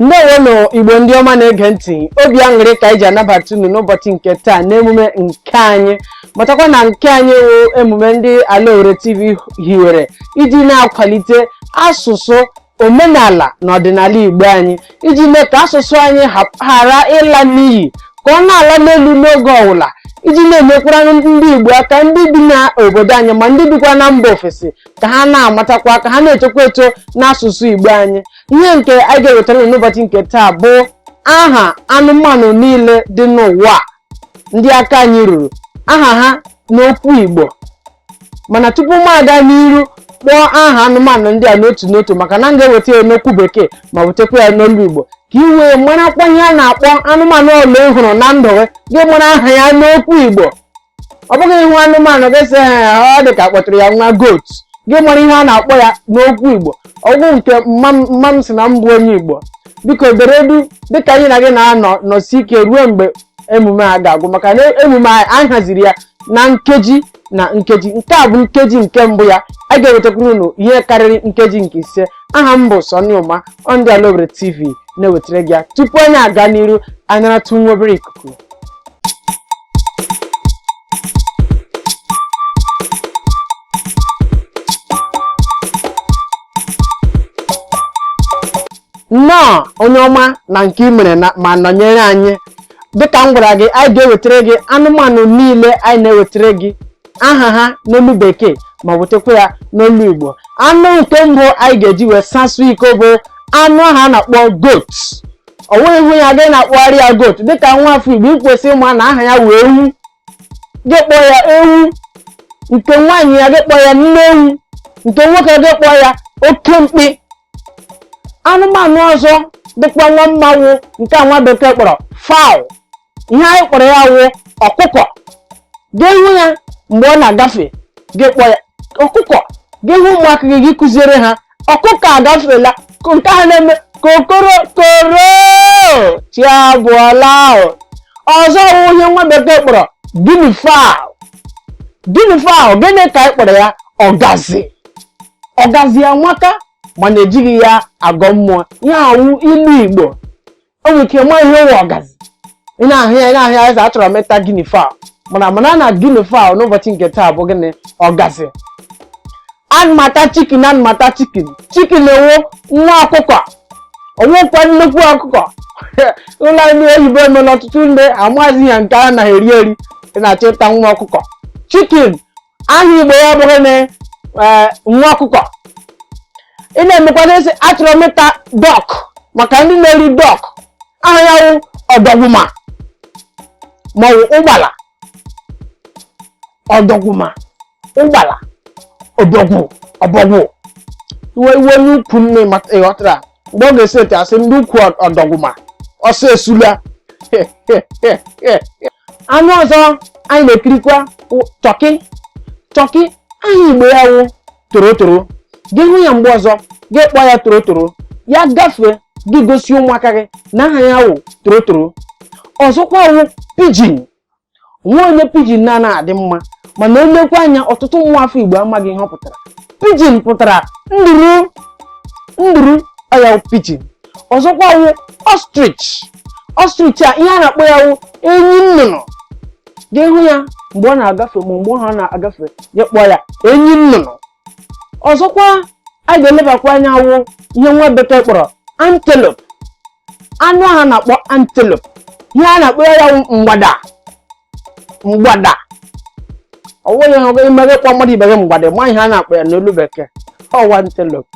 ndewonụ igbo ndị ọma na-ege ntị obi aṅụrị ka anyị ji anabata unu n'ụbọchị nke taa n'emume nke anyị matakwa na nke anyị wụ emume ndị alaore tv hiwere iji na-akwalite asụsụ omenala na ọdịnala igbo anyị iji mee ka asụsụ anyị ghara ịla n'iyi ka ọ na-ala n'elu n'oge ọwụla iji na-enyekwara ndị igbo aka ndị bi n'obodo anyị ma ndị bikwa na mba ofesi ka ha na-amatakwa ka ha na-etokwa eto n'asụsụ Igbo anyị ihe nke anyị ga-ewetara n'ụbọchị nke taa bụ aha anụmanụ niile dị n'ụwa ndị aka anyị ruru aha ha n'okwu Igbo mana tupu m aga n'iru kpọọ aha anụmanụ ndị a n'otu n'otu maka na m ga-eweta ya n'okwu bekee ma wetakwa ya n'olu Igbo ka i wee marakwa ihe a na-akpọ anụmanụ ole ị hụrụ na ndụ gị gị mara aha ya n'okwu Igbo ọ bụghị ị hụ anụmanụ gị sị ọ dị ka a kpọtụrụ ya nwa goat gị mara ihe a na-akpọ ya n'okwu igbo ọgwụ nke mma m- mma m si na m bụ onye igbo biko dere duu dịka anyị na gị na-anọ nọsie ike ruo mgbe emume a ga-agwụ maka na emume a anyị haziri ya na nkeji na nkeji nke a bụ nkeji nke mbụ ya a ga-ewetakwuru unu ihe karịrị nkeji nke ise aha m bụ Sonny Ụma ndị Alaore TV na-ewetara gị ya tupu anyị aga n'iru anyị naratụ nwa obere ikuku nnọọ onye ọma na nke i mere na- ma nọnyere anyị dịka m gwara gị anyị ga-ewetara gị anụmanụ niile anyị na-ewetara gị aha ha n'olu bekee ma wetakwa ya n'olu igbo anụ nke mbụ anyị ga-eji wee sasụ iko bụ anụ ahụ a na-akpọ goat ọ wụghị ị hụ ya gị na-akpọgharị ya goat dịka nwa afọ igbo i kwesị ịma na aha ya wụ ewu gị kpọọ ya ewu nke nwaanyị ya gị kpọọ ya nne ewu nke nwoke gị kpọọ ya oke mkpi anụmanụ ọzọ dịkwa nwa mma wụ nke nwa bekee kpọrọ fowl ihe anyị kpọrọ ya wụ ọkụkọ gị hụ ya mgbe ọ na-agafe gị kpọọ ya ọkụkọ gị hụ ụmụaka gị gị kụziere ha ọkụkọ agafela nke ahụ na-eme kokoro koro chi abọọla anụ ọzọ wụ ihe nwa bekee kpọrọ guinea fowl guinea fowl gịnị ka anyị kpọrọ ya ọgazi ọgazi amaka mana ejighị ya agọ mmụọ ihe a wụ ilu igbo o nwere ike ma ihe wụ ọgazi ị na-ahụ ya ị na-ahụ ya ị sị achọrọ m ịta guinea fowl mana mana na guinea fowl n'ụbọchị nke taa bụ gịnị ọgazi ana m ata chicken ana m ata chicken chicken wụ nwa ọkụkọ ọ wụkwa nnukwu ọkụkọ olu ndị oyibo emela ọtụtụ ndị amaghịzi ya nke a naghị eri eri ị na-achọ ịta nwa ọkụkọ chicken aha igbo ya bụrụ na eh, nwa ọkụkọ ị na-emekwana sị achọrọ m ịta duck maka ndị na-eri duck aha ya wụ ọdọgwụma ma ọ wụ ụgbala ọdọgwụma ụgbala ọbọgwụ iwe onye ukwu nne ịghọtara mgbe ọ ga-esi ete a sị ndị ukwu ọdọgwụma ọsọ esula anụ ọzọ anyị na-ekirikwa turkey turkey aha igbo ya wụ torotoro gị hụ ya mgbe ọzọ gị kpọọ ya torotoro ya gafee gị gosi ụmụaka gị na aha ya wụ torotoro ọzọkwa wụ pigeon o nwe onye pigeon na-adị mma mana e lekwa anya ọtụtụ nwa afọ igbo amaghị ihe ọ pụtara pigeon pụtara nduru nduru ọ ya wụ pigeon ọzọkwa wụ ostrich ostrich a ihe a na-akpọ ya wụ enyi nnụnụ gị hụ ya mgbe ọ na-agafe ma mgbe ọ na-agafe gị kpọọ ya enyi nnụnụ ọzọkwa a ga-elebakwa anya wụ ihe nwa bekee kpọrọ antelope anụ ahụ a na-akpọ antelope ihe a na-akpọ ya wụ mgbada mgbada ọ wụghị i mee gị kpọọ mmadụ ibe gị mgbada ma ihe a na-akpọ ya n'olu bekee ọ wụ antelope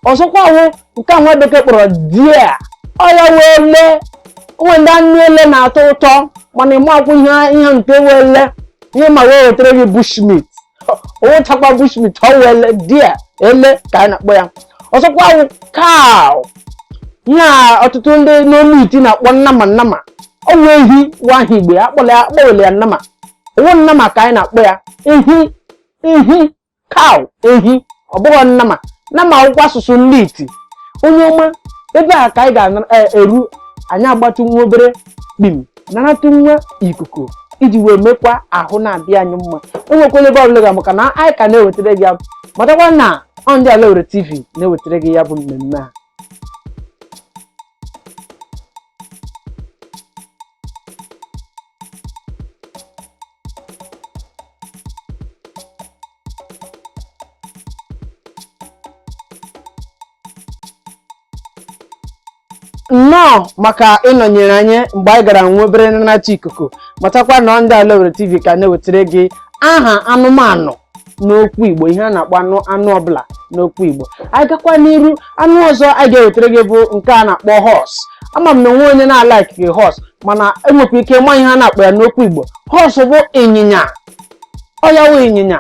ọzọkwa wụ nke a nwa bekee kpọrọ deer ọ ya wụ ele o nwe ndị anụ ele na-atọ ụtọ mana ị makwaghị ihe nke wụ ele ihe ị ma wụ e wetara gị bushmeat ọ wụchakwa bushmeat ọ wụ ele deer ele ka a na-akpọ ya ọzọkwa wụ cow ihe a ọtụtụ ndị n'olu iti na-akpọ nnama nnama ọ wụ ehi wụ aha igbo ya akpọwele ya nnama ọ wụghị nnama ka anyị na-akpọ ya ehi cow ehi ọ bụghị nnama nnama wụkwa asụsụ ndị iti onye ọma ebe a ka anyị ga-eru anyị agbatụ nwa obere kpim naratụ nwa ikuku iji wee mekwa ahụ na-adị anyị mma enwekwala ebe ọbụla ị ga maka na anyị ka na-ewetara gị ya matakwa na ọ ndị ala owerri tv na-ewetara gị ya bụ mmemme a nnọọ maka ịnọnyere anyị mgbe anyị gara nwa obere naratụ ikuku matakwa na ọ ndị ala Owerri TV ka na-ewetara gị aha anụmanụ n'okwu Igbo ihe a na-akpọ anụ ọbụla n'okwu Igbo anyị gakwa n'iru anụ ọzọ anyị ga-ewetara gị bụ nke a na-akpọ horse ama m na o nwe onye na-alaikị horse mana enwekwa ike ịma ihe a na-akpọ ya n'okwu Igbo horse bụ ịnyịnya ọ ya wụ ịnyịnya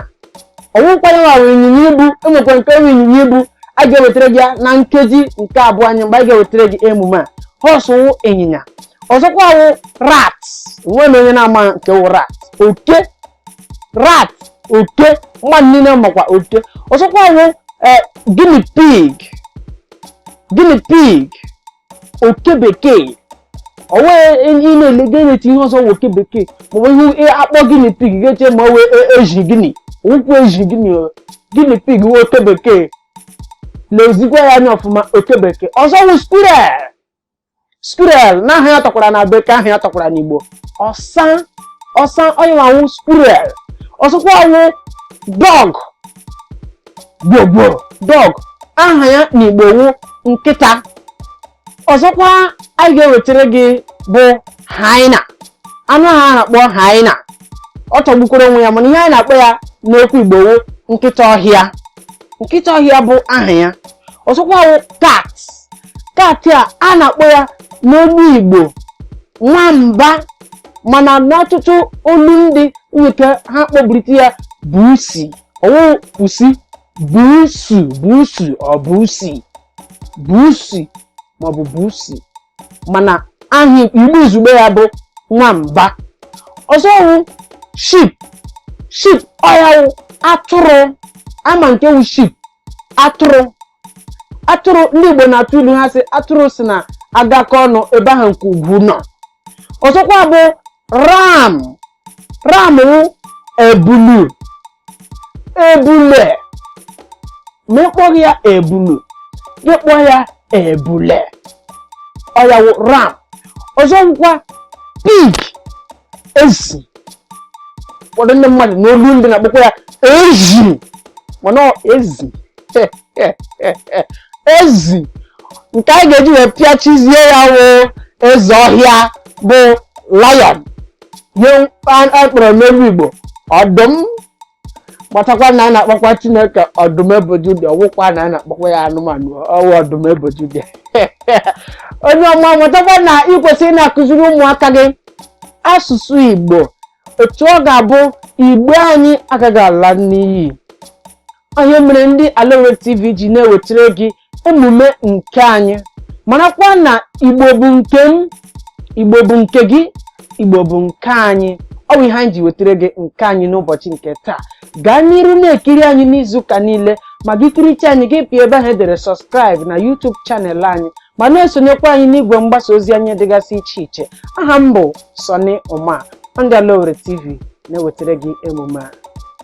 ọwụkwa ya nwa wụ ịnyịnya ibu enwekwa nke wụ ịnyịnya ibu a ga-ewetara gị ya na nkeji nke abụọ anyị mgbe a ga-ewetara gị emume a horse wụ ịnyịnya ọzọkwa wụ rat o nwe onye na-ama nke wụ rat oke rat oke mmadụ niile makwa oke ọzọkwa wụ eh, guinea pig guinea pig oke bekee ọwụ ị na-ele gị na-eti ihe ọzọ wụ oke bekee maọbụ ihe akpọ guinea pig gị eche ma ọwụ e- ezi guinea ọwụghị ezi guinea o, guinea pig wụ oke bekee lezikwa ya anya ọfụma oke bekee ọzọ wụ squirrel squirrel na aha ya tọkwara na bekee aha ya tọkwara n'igbo ọsa ọsa ọya wụ squirrel ọzọkwa wụ dog gwogwo dog aha ya n'igbo wụ nkịta ọzọkwa anyị ga-ewetara gị bụ hyena anụ ahụ a na-akpọ hyena ọ tọgbukwara onwe ya mana ihe anyị na-akpọ ya n'okwu igbo wụ nkịta ọhịa nkịta ọhịa bụ aha ya ọzọkwa wụ cat cat a a na-akpọ ya n'okwu igbo nwamba mana n'ọtụtụ olu ndị nwe ike ha kpọbirite ya busi ọwụ pusi busu busu ọ busi busi maọbụ busi mana aha igbo izugbe ya bụ nwamba ọzọ wụ sheep sheep ọya wụ atụrụ ama nke wụ sheep atụrụ atụrụ ndị Igbo na-atụ ilu ha sị atụrụ sị na agakọ ọnụ ebe ahụ nke ugwu nọ ọzọkwa bụ ram ram wụ ebulu ebule ma ị kpọghị ya ebulu gị kpọọ ya ebule ọya wụ ram ọzọ wụkwa pig ezi ụfọdụ ndị mmadụ n'olu ndị na-akpọkwa ya ezi mana ezi ezi nke anyị ga-eji wee pịachizie ya wụ eze ọhịa bụ lion ihe a kpọrọ n'olu igbo ọdụm matakwa na a na-akpọkwa chineke ọdụm ebo juda ọwụkwa na a na-akpọkwa ya anụmanụ ọwụ ọdụm ebo juda onye ọma matakwa na ị kwesịrị na-akụziri ụmụaka gị asụsụ igbo otu ọ ga-abụ igbo anyị agaghị ala n'iyi ọya mere ndị ala owere tv ji na-ewetara gị emume nke anyị marakwa na igbo bụ nke m igbo bụ nke gị igbo bụ nke anyị ọ bụ ihe anyị ji wetara gị nke anyị n'ụbọchị nke taa gaa n'iru na-ekiri anyị n'izuụka niile ma gị kiricha anyị gị pịa ebe ahụ edere subscribe na YouTube channel anyị ma na-esonyekwa anyị n'igwe mgbasa ozi anyị dịgasị iche iche aha m bụ Sunny Ụma ndị Ala Owere TV na-ewetara gị emume a